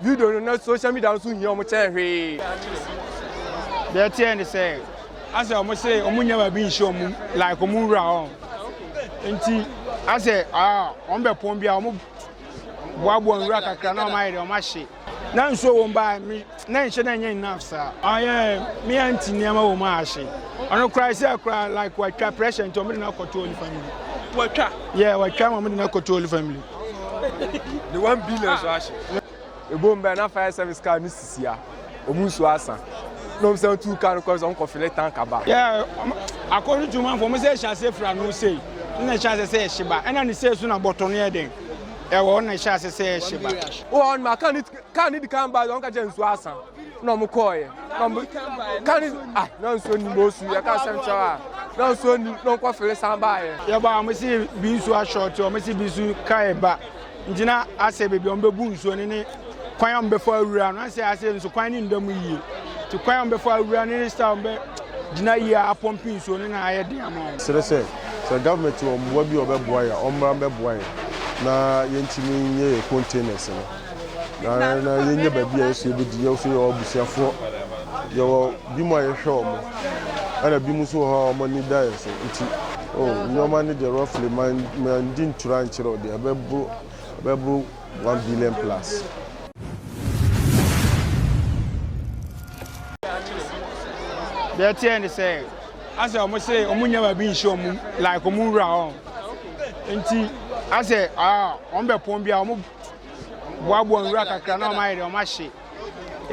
video no na social media nso hia wɔn kyɛn hwee. Deɛ ɛteɛ ne sɛ asɛ wɔn se wɔn nyɛ baabi nhyɛ wɔn like wɔn wura hɔ nti asɛ ah, wɔn bɛ pɔn bi a wɔn boaboa nwura kakra na wɔn ayɛ deɛ wɔn ahye. na nsuo wɔ mu baa na nhyɛ na nyɛ enough saa. ayɛ me anti nneɛma wɔ mu a ahye ɔno koraa sɛ koraa like watwa pressure nti wɔn de no akɔto holy family. watwa. yɛ watwa ma wɔn de no akɔto holy family. ne one billion so ahye ebom bɛn na fire service car no sisi a wɔn nsuo asa na wɔn san tu car no kɔ sɛ wɔn kɔ fele tank aba. akɔno tu manfo wɔn sɛ ɛhyɛ ase fira no sei na ɛhyɛ ase sɛ ɛhye ba ɛna ne sei so na bɔtɔ no yɛ den ɛwɔ na ɛhyɛ ase sɛ ɛhye ba. wɔn ma car ne car ne di kan ba wɔn ka kyɛ nsuo asa. na wɔn kɔɔɛ na wɔn ka ne ah na nsuo nim bɔ osu yɛka asɛm kyerɛ a na nsuo nim na wɔn kɔ fele san baayɛ. yɛba wɔn si bi nsuo ashort wɔn si bi nsuo kae ba ngyina asɛ beebi wɔn bɛbu nsuo ne ne kwan a wɔn bɛfa awura no asɛ asɛ nso kwan ne nda mu yie ti kwan a wɔn bɛfa awura ne ne sta wɔn bɛ gyina yie a apɔmpi nsuo ne na ayɛ den ama wɔn. serɛ sɛ sɛ government wɔ mmoa bi a wɔbɛboa yɛ a wɔmmra mmɛboa yɛn na yɛntumi nyɛ yɛ containers no. Na na yɛnyɛ baabi a yɛsɛ yɛbɛdi. Yɛn nso yɛwɔ abusuafoɔ. Yɛwɔ binom a yɛhwɛ wɔn. Ɛna binom nso wɔ hɔ a wɔn ani da yɛn so. Nti oh, nnoɔma no deɛ roughly man, mandi ntorɔ ankyerɛ wo deɛ, ɛbɛboro, ɛbɛboro one billion plus. Deɛ ɛteɛ ne sɛ, asɛ wɔn se wɔn nyɛ baabi nhyɛ wɔn mu, like wɔn wura hɔ. Nti asɛ ah, wɔn bɛpɔn bi a wɔn. boaboa nwura kakra na wɔn ayɛ deɛ wɔn ahye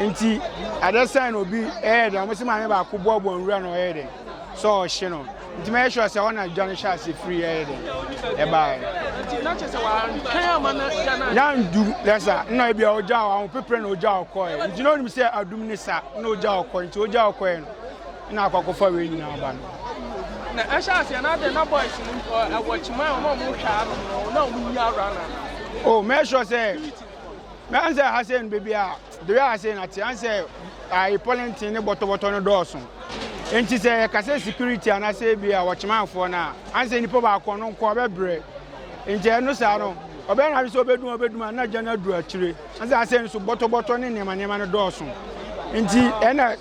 nti adeɛ sɛn na obi ɛyɛ deɛ wɔn si maame baako boaboa nwura na ɔyɛ deɛ sɛ ɔhye no nti mɛyɛ sure sɛ ɔna gya no hyɛ ase firi ɛyɛ deɛ ɛbaeɛ. na ndu lɛsa na ebi a ɔgya wɔ ahopepere na ɔgya ɔkɔɛ nti na onim sɛ adum ne sa na ɔgya ɔkɔ nti ɔgya ɔkɔɛ no. Ɛna akɔ akɔfa wei nyinaa aba no. Na ɛhyɛ aseɛ na adɛn na boys no mpo ɛwɔ kyima a wɔn a wɔhwɛ ano no na wɔn nyia awura na. o oh, mɛ sure sɛ mɛ an sɛ ha sɛ no beebi a de yɛ ase na te an sɛ ayi pɔlɛntin ne bɔtɔbɔtɔ no dɔɔso nti sɛ yɛka sɛ security anaasɛ bi a wɔkyemanfoɔ no a an sɛ nipa baako no nko ɔbɛbrɛ nti ɛno saa no ɔbɛyɛ na sɛ ɔbɛdum ɔbɛdum a na gya no aduru akyire an sɛ asɛ nso bɔtɔbɔtɔ ne nneɛma nneɛma no dɔɔso nti ɛna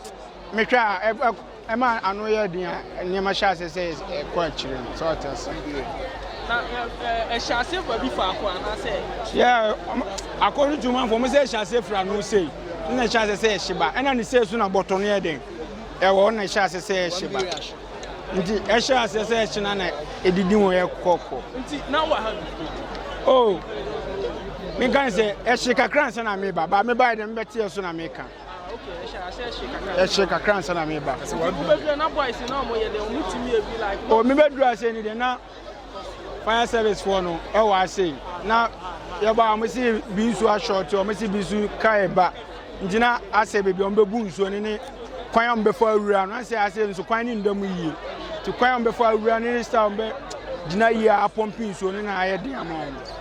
Mehwɛ a, ɛ- ɛ- ɛma ano yɛ den a, nneɛma hyɛ ase sɛ ɛs- ɛkɔ akyire no. Sɛ ɔte ase. Na ɛ- ɛ- ɛhyɛ ase fa bi faako anaasɛ Yɛ, ɔm- according to manfoɔ, wɔn sɛ ɛhyɛ ase firi ano sei, ɛna ɛhyɛ ase sɛ ɛhye ba. Ɛna ne sei so na bɔtɔ no yɛ den. Ɛwɔ hɔ na ɛhyɛ ase sɛ ɛhye ba. Nti ɛhyɛ ase sɛ ɛhye na na ɛdidi ho yɛ kɔkɔ. nti na wɔ ha bi? Oh, meka ne sɛ ɛhye kakra ansa na meba, ba mebaeɛ dɛ mebɛteɛ so na meka. Ah, okay. Ɛhyɛ ase ɛhyɛ kakra. Ɛhyɛ kakra nsa na meba. Kasi wa bi. Wobɛdura na boys na ɔmo yɛ dɛ ɔmo tumi ebi like. O oh, mi bɛdura ase ni de na fire service foɔ no ɛwɔ eh, ase na yɛba ɔmo si bi nsu ashɔɔte ɔmo si bi nsu kaa ɛba ngyina asɛ beebi ɔmo bɛbu nsuo ne ne kwan a ɔmo bɛfa awura no asɛ ase nso kwan ne nda mu yie ti kwan a ɔmo bɛfa awura ne ne style ɔmo bɛ gyina yie a apɔmpi nsuo ne na ayɛ den ama ɔmo.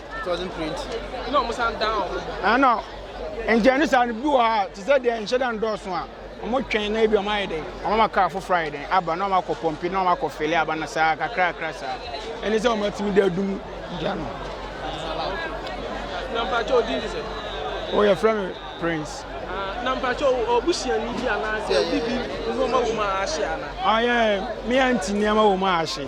ɛna nkyɛn ne saa no bi wɔ ha te sɛ deɛ nhyɛ da ndɔɔso a wɔn twɛn na ebi wɔn ayɛ dɛn wɔn ama kaa foforɔ ayɛ dɛn aba na wɔn akɔ pɔmpi na wɔn akɔ fele aba na saa kakra kakra saa ɛne sɛ wɔn atumi de adum gya no. nampakyɛ odi ni sɛ. o yɛ fɛn mi prince. Ah, nampakyɛ o busua ni bi anaasɛ obi bi nneɛma wɔ mu a ahye ana. ɔyɛ ah, mi anti nneɛma wɔ mu a ahye.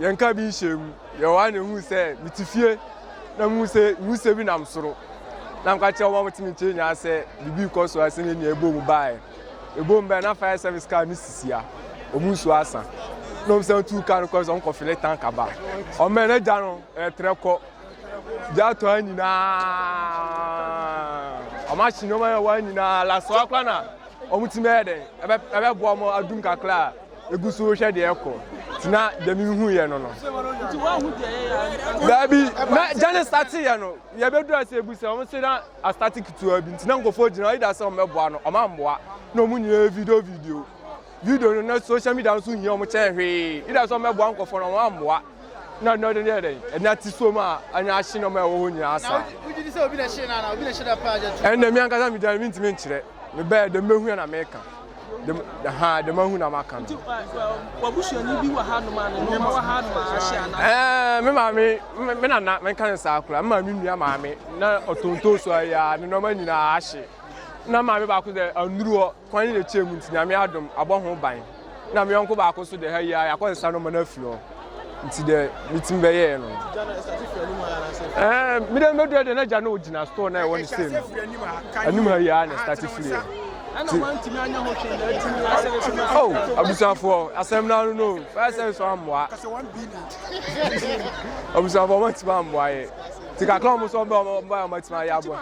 Yɛnka bi nhyɛɛ mu. Yɛwɔ ha na ehuu sɛ mete fie na muhu sɛ nwusie bi nam soro. Na meka kyerɛ wɔn a wɔte me nkyɛn nyinaa sɛ biribi rekɔ so a sɛnea nea ɛbɔ mu baeɛ. Ɛbɔ mu baeɛ na fire service car no sisi ha. Wɔn nsuo asa. Na wɔn san tuu car no kɔe sɛ wɔkɔfele tank aba. Wɔmmɛn na gya no retrɛ kɔ. Gya atɔ ha nyinaa. Wɔn ahye nneɛma a ɛwɔ ha nyinaa. Lasoa koraa na wɔtumi bɛyɛ dɛn ɛbɛboa wɔn adum kakra a Egu so rehwɛ deɛ ɛkɔ ti na deɛ mi hu yɛ no no. Nti wɔn ahu deɛ yɛ yɛ. Daabi na gyane stati yɛ no yɛ bɛ dura se ebu se wɔn se na astati ketewa bi nti na nkɔfo gyina ɔyi da se wɔn bɛ boa no wɔn amboa na wɔn nyinaa yɛ video video video no na social media nso hia wɔn kyɛn hwee yi da se wɔn bɛ boa nkɔfo no wɔn amboa. na na ɔde yɛ dɛn ɛna ti so ma anya ahye nneɛma a ɛwɔ hɔ nyinaa saa ɛnna mi ankasa mi dan mi ntumi nkyerɛ mi bɛyɛ dɛm mehu yɛ na meka dɛm ha dɛm ahu na maka no. wabusuani bi wɔ ha nom a ne nneɛma wɔ ha nom a ahye ana. ɛɛ me maame me nana menka ne saa koraa me maame nua maame na ɔtontoso ayɛ a ne nneɛma nyinaa ahye na maame baako dɛ anuru hɔ. Kwan no na ɛkyɛɛ mu nti Nyame adom abɔ ho ban na me yɔnko baako nso deɛ ha yi ara yɛakɔsesa nɔma no afiri hɔ nti deɛ metumi bɛyɛɛ no ɛɛ mede mɛdurɛ deɛ na gya no ɔgyina store na ɛwɔ ne sei no anim ha yi ara na ɛstate firiɛ oh abusuafoɔ asɛm no ano no fire service ammoa abusuafoɔ ɔmatumi ammoa yɛ nti kakra ɔmo sɛ ɔmbɛ ɔmo ɔmo ayɛ ɔmatumi ayɛ aboa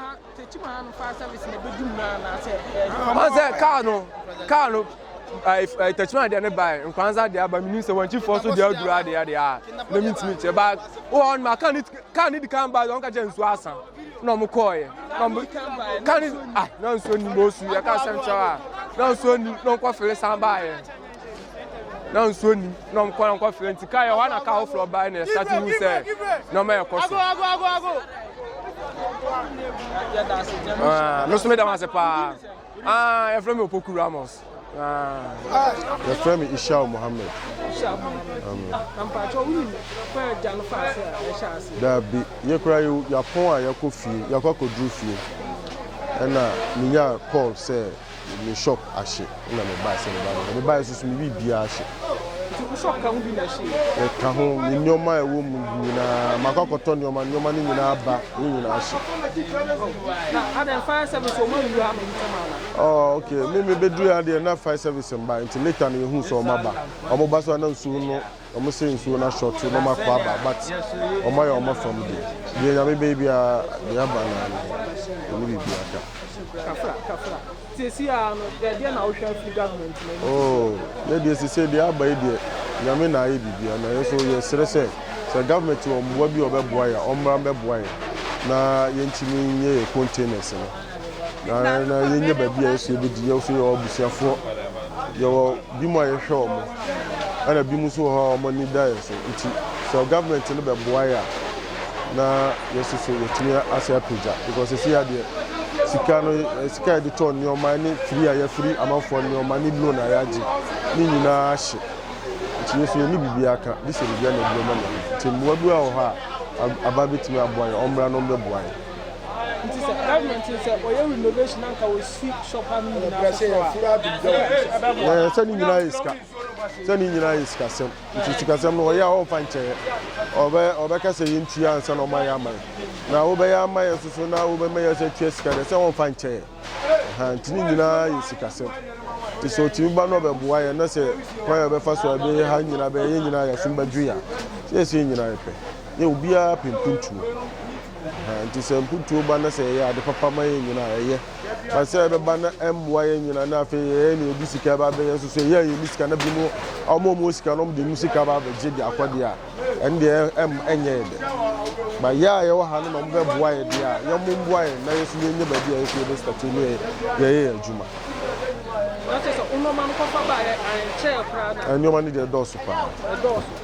Ɔn sɛ car no car no ɛɛ tɛkyima adeɛ ne baa nkwanza adeɛ aba mi nim sɛ wɔn kyifoɔ so deɛ aduru adeɛ adeɛ a na mi ntumi kyɛ baa wɔ hɔ ma car ne car ne di kan baa wɔn ka kyɛ nsuo asa na wɔn kɔɔ yɛ na wɔn car ne ah na nsuo ni mo su yɛ car central a na nsuo ni na wɔn kɔ fere san baa yɛ. na nsuo nnim na wɔn kɔn nkɔ frɛ nti kaa yɛ hɔ na kaa foforɔ baa na ɛsa ti hu sɛ nneɛma yɛ kɔ so ah, me nso meda ho ase paa ah, yɛfrɛ me opoku ramos ah. yɛfrɛ me ishao mohammed daabi yɛkora yɛapɔn a yɛkɔ fie yɛkɔ akɔduru fie ɛna menya call sɛ Me shop ahye na me bae sɛ me ba bɛhwɛ. Me bae nso so me biribiara ahye. Nti wo shop ka ho bi na ɛhye yi? Ɛka ho, me nneɛma a ɛwɔ mu nyinaa, makɔ akɔtɔ nneɛma, nneɛma no nyinaa aba, ne nyinaa ahye. Oh, na adɛn fire service wɔn anwura ha no ntɛm ana? Oh, okay, me me bɛduru ha deɛ na fire service mba, nti later na yɛhuu sɛ wɔn aba. Wɔn ba so a na nsuo no Ɔmo sɛ nsuo no asɔ to na ɔmo akɔ aba but ɔmo ayɛ ɔmo fam deɛ. Deɛ nyame bɛyɛ biara deɛ aba naa no ɛne biribiara ka. Kafra kafra siesie aa no deɛ deɛ na wohwɛ afiri government no anim. Oo yɛ deɛ siesie deɛ aba yi deɛ nyame na ayɛ biribiara na yɛn nso yɛ srɛ sɛ sɛ government wɔ mmoa bi a ɔbɛboa yɛn a ɔmmra mbɛboa yɛn na yɛntumi nyɛ yɛn containers no. Na na yɛnyɛ baabi a yɛsɛ yɛbɛdi. Yɛwɔ so yɛwɔ abusuafoɔ. Yɛwɔ bi mu a yɛhwɛ wɔn. Ɛna bi mu nso wɔ hɔ a wɔn ani da yɛn so. Nti sɛ government no bɛboa yɛ a na yɛso so yɛtumi asɛ apagya. Because sisi ya deɛ sika no sika a yɛde tɔ nneɛma ne firi a yɛfiri amanfoɔ nneɛma ne loan a yɛagye ne nyinaa ahye. Nti yɛso yɛne biribi aka. Bi sɛ biribi a na ɛduro ma no. Nti mmoa bi wɔ hɔ a aba bɛtumi aboa yɛn. Wɔmmra na wɔmmɛboa yɛn. Nti sɛ government no sɛ wɔyɛ renovation na nka wɔsi shop ano nyinaa foforɔ a, ɛbɛboa. Sɛ ne nyinaa yɛ sika sɛ ne nyinaa yɛ sikasɛm nti sikasɛm no ɔyɛ a ɔmfa nkyɛeɛ ɔbɛ ɔbɛka sɛ yɛntua ansa na ɔma yɛ ama yɛ na wobɛyɛ ama yɛ soso na wobɛma yɛ sɛ tua sika deɛ sɛ ɔmfa nkyɛeɛ ha nti ne nyinaa yɛ sikasɛm nti sɛ ɔtumi ba no ɔbɛboa yɛ na sɛ kwan yɛ ɔbɛfa so a ɛbɛyɛ ha nyinaa bɛyɛ yɛ nyinaa yɛ asom bɛdwo yɛ a sɛ yɛ sɛ yɛ nyinaa yɛ pɛ yɛ obiara pɛ mpuntuo Ɛhɛɛ nti sɛ mputuo ba na sɛ yɛyɛ ade papa ma yɛn nyina a ɛyɛ. But sɛ ɛbɛba na ɛmmoa yɛn nyina na afei yɛyɛ nea yɛde sika ba abɛyɛ nso so yɛn a yɛnni sika na binom wɔn a wɔn wɔ sika no wɔde wɔn sika ba abɛgye de akɔ deɛ a ɛno deɛ ɛm ɛnyɛ yɛ dɛ. But yɛ a yɛwɔ ha no na wɔbɛboa yɛ deɛ a yɛn mo mboa yɛn na yɛn nso yɛnyɛ baabi a yɛn nso yɛbɛ start ne yɛn yɛyɛ yɛn adwuma. Na kyerɛ sɛ wo nnoɔma no kɔfa baeɛ ankyɛɛ koraa no a. Nnoɔma no deɛ ɛdɔɔso paa. Ɛdɔɔso.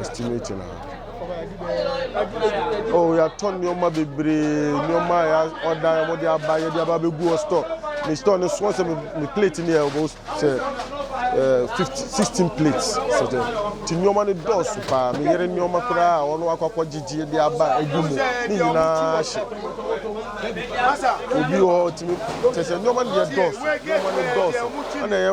estimate na oh yɛatɔ nneɛma bebree nneɛma a yɛɔda wɔde aba yɛde aba bɛgu wɔ store me store no soɔ sɛ me plate no yɛ wɔbɔ sɛ fifty sixteen plates sɛ dɛ nti nneɛma no dɔɔso paa me yere nneɛma koraa a ɔno akɔkɔ gyegye de aba agu mu ne nyinaa hyɛ obi wɔ tumi kyɛ sɛ nneɛma no yɛ dɔɔso nneɛma no dɔɔso ɛna yɛ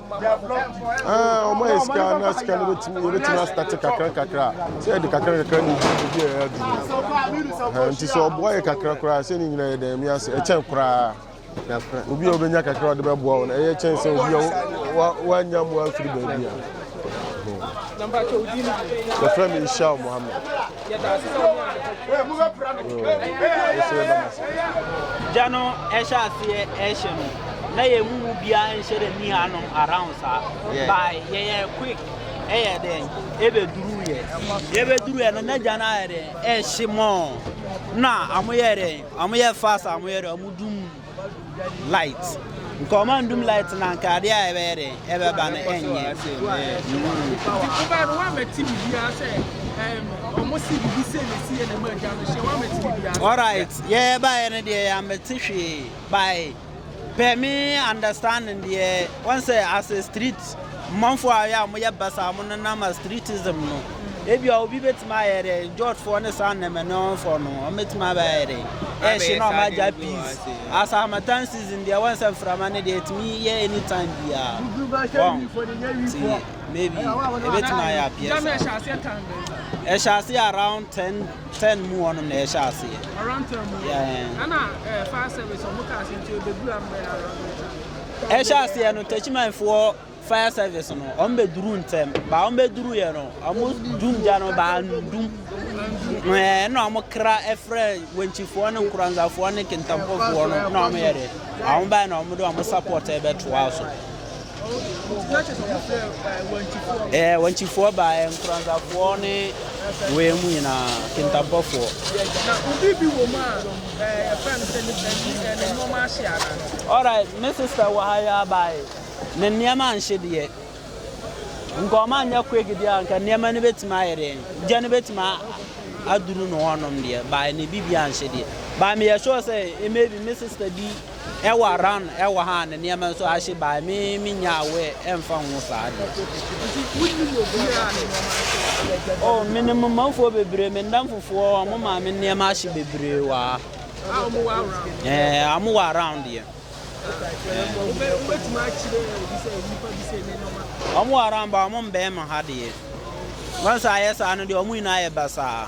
ɔma yɛ sika na sika no yɛbɛtumi astate kakra kakra sɛ yɛde kakra kakra ne ɛduru bi a ɛaduru nti sɛ ɔboa yɛ kakra koraa sɛ ne nyina yɛ dɛn miase ɛkyɛn koraa obi a wobɛnya kakra ɔde bɛboa wo no ɛyɛ kyɛn sɛ obi a woanya mmoa mfiri baabi a yɛfrɛ me nhyia mohammed gya no ɛhyɛ aseɛ ɛhyɛ no na yɛn mu mu biara nhyɛ dɛ ni hanom around saa ba yɛyɛ quick ɛyɛ dɛ ɛbɛduru yɛ yɛbɛduru yɛ no na gya no ayɛ dɛ ɛhyɛ mɔɔ na ɔmo yɛ dɛ ɔmo yɛ fast ɔmo yɛ dɛ ɔmo dum Light. Nka ɔma ndum light na nka ade a ɛbɛyɛ dɛ ɛbɛba no ɛnyɛ. Alright, yɛ baayɛ no deɛ yɛ amɛte hwee by per me understanding deɛ wɔn sɛ as a street. Manfoɔ a wɔyɛ a wɔyɛ basaa a wɔnenam Astritism no, ebia obi bɛtumi ayɛ dɛn? Jotfoɔ ne saa Nemeneɔnfoɔ no, wɔbɛtumi abɛyɛ dɛn? Ɛhye na wɔagya peas. As harmattan season deɛ, wɔn sɛ mframa no deɛ, ɛtumi yɛ any time biara. Wɔn, nti maybe, ɛbɛtumi ayɛ appear saa. Ɛhyɛ aseɛ around ten, ten mu hɔnom na ɛhyɛ aseɛ. Around ten mu. Yeah. Ɛna eh, fire service, wɔn kaa sɛ nti ɛbɛduru ambrɛ around ten. Ɛhyɛ aseɛ no Techiman foɔ fire service no wɔn bɛ duru ntɛm ba wɔn bɛ duru yɛ no wɔn dum gya no baa dum ɛɛ na wɔn kra ɛfrɛ wɔnkyifoɔ ne nkoranzafoɔ ne kentampɔfoɔ no na wɔn yɛ dɛ wɔn baa na wɔn de wɔn support ɛbɛ to aso. Ɛɛ wɔnkyifoɔ baa ɛɛ nkoranzafoɔ ne wɔn mu nyinaa kentampɔfoɔ. Alright me sister wɔ ha yi ara bae. Ne nneɛma anhye deɛ. Nka ɔma nyɛ quick deɛ a nka nneɛma no bɛtumi ayɛ dɛn. Gya no bɛtumi aduru no hɔnom deɛ. Bae ne biribi anhye deɛ. Bae meyɛ sure sɛ maybe me sister bi. Ɛwɔ around ɛwɔ ha a ne nneɛma nso ahye by me me nya aware ɛmfa ho saa deɛ. Nti wonim obiara a ne nneɛma ahye wɔ ha? Oh menim manfoɔ bebree me ndamfofoɔ wɔn maame nneɛma ahye bebree wɔ ha. A wɔn wɔ around? Ɛɛ wɔn wɔ around deɛ. Wobɛ wobɛtumi akyerɛ obi sɛ nipa bi sɛ ne nneɛma. Wɔn wɔ around ba wɔn mbɛn mo ha deɛ. Wɔn nso ayɛ saa no deɛ wɔn nyinaa yɛ basaa.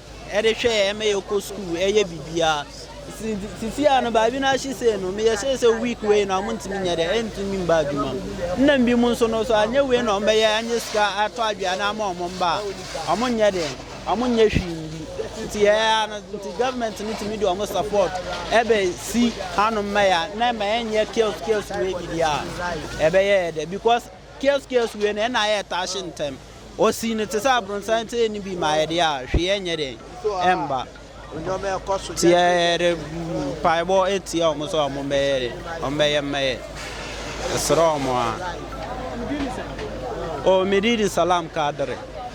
de hwɛ yɛn ma yɛkɔ sukuu yɛ biribiara. Sisi a no baabi no ahye sei no, meyɛ sɛ sɛ week wei na ɔmo ntumi nyɛ dɛ, ɛntumi mba adwuma mu. Nna bi mu nso no, so anyɛ wei na ɔmo bɛyɛ anyɛ sika atɔ aduane ama ɔmo mba a, ɔmo nyɛ dɛ, ɔmo nyɛ hwee nni. Nti yɛyɛ ara no, nti government no tumi de ɔmo support ɛbɛsi hanom ma yɛn a, na ɛma yɛnyɛ chaos chaos wei bi deɛ a, ɛbɛyɛ yɛn dɛ because. Kies kies wei no ɛna ayɛ ɛtaa hye ntɛm ɔsii no te sɛ abronsan te ɛni bi ma ayɛ deɛ a hwee ɛnyɛ dɛn ɛmba nti yɛde mpaebɔ ɛtia ɔmo sɛ ɔmo bɛyɛ dɛ ɔmo bɛyɛ mmɛyɛ ɛsrɛ ɔmo a o medidi salam kadere.